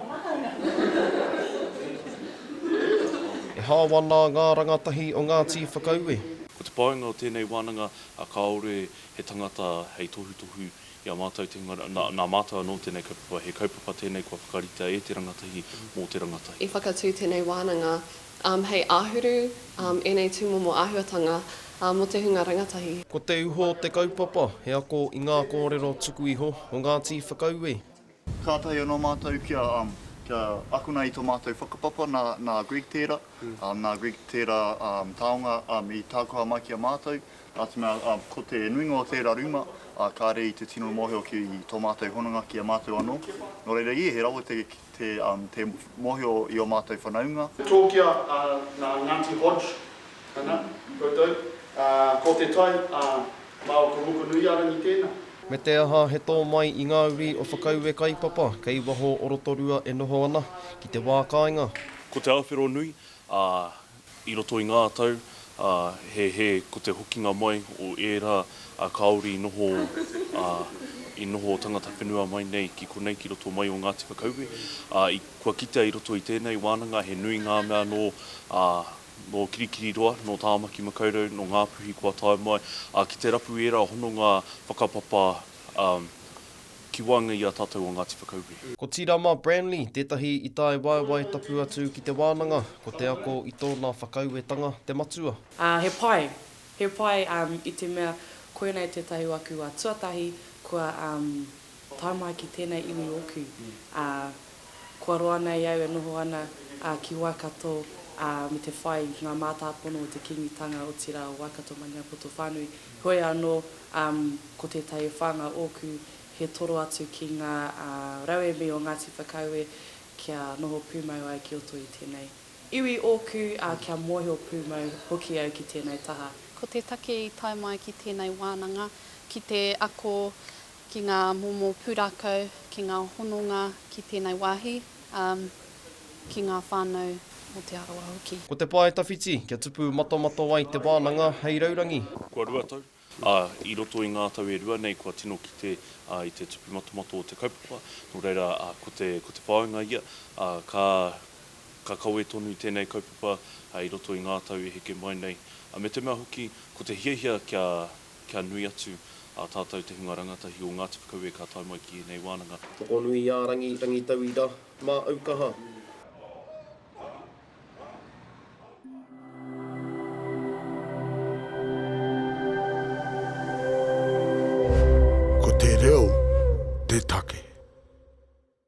E hāwā nā ngā rangatahi o ngā tīwhakaue. Ko te painga o tēnei wānanga, kāore he tangata hei tohutohu i a mātou, nā mātou anō tēnei kaupapa. He kaupapa tēnei kua whakaritea e te rangatahi, mō te rangatahi. I whakatū tēnei wānanga hei āhuru ēnei tūmomo āhuatanga mō te hunga rangatahi. Ko te uho o te kaupapa, he ako i ngā kōrero tuku iho o ngā tīwhakaue. Kātahi anō mātou kia akona i tō mātou whakapapa nā Greg tērā, nā Greg tērā taonga i tākoha mai ki a mātou, nā te mea ko te nuinga o tērā rūma kāre i te tino mōhio ki tō mātou hononga ki a mātou anō. Nō reira, ē, he rawe te mōhio i ō mātou whanaunga. Tōkia nā Ngāti Hodge ana koutou, ko te tai Mā o Te Hokonuiarangi tēnā. Me te aha, he tō mai i ngā uri o Whakaue Kaipapa kei waho o Rotorua e noho ana ki te wā kāinga. Ko Te Awheronui, ā, i roto i ngā tau, ā, he hē ko te hokinga mai o ērā, ā, kāore i noho, ā, i noho tangata whenua mai nei ki konei, ki roto mai o Ngāti Whakaue, ā, i, kua kitea i roto i tēnei wānanga he nui ngā mea nō, ā, nō Kirikiriroa, nō Tāmaki Makaurau, nō Ngā Puhi kua tae mai, ā, ki te rapu ērā hononga whakapapa ki waenga i a tātou o Ngāti Whakaue. Ko Tirama Branley tētahi i tae waewae tapu atu ki te wānanga, ko te ako i tōna whakauetanga te matua. Ā, he pai, he pai i te mea koinei tētahi wā kua tuatahi, kua. Tae mai ki tēnei iwi ōku, ā, kua roa nei au e noho ana ki Waikato me te whai i ngā mātāpono o te Kīngitanga, otirā o Waikato-Maniapoto whānui. Heoi anō, ko tētahi e whā ngā ōku, he toro atu ki ngā rauemi o Ngāti Whakaue kia noho pūmau ai ki roto i tēnei iwi ōku, ā, kia mōhio pūmau hoki au ki tēnei taha. Ko te take i tae mai ki tēnei wānanga ki te ako ki ngā momo pūrākau, ki ngā hononga ki tēnei wāhi, ā, ki ngā whānau o Te Arawa hoki. Ko te pae tawhiti, kia tupu matamata ai te wānanga hei raurangi. Kua rua tau, ā, i roto i ngā tau e rua nei kua tino kite i te tupu matamata o te kaupapa, nō reira, ko te, ko te whāinga ia, ā, ka, ka kawe tonu tēnei kaupapa i roto i ngā tau i heke mai nei, me te mea hoki, ko te hiahia kia, Kia nui atu a tātou te hunga rangatahi o Ngāti Whakaue ka tae mai ki ēnei wānanga. Tokonuiārangi, Rangitauira, Māaukaha. Ko te reo te take.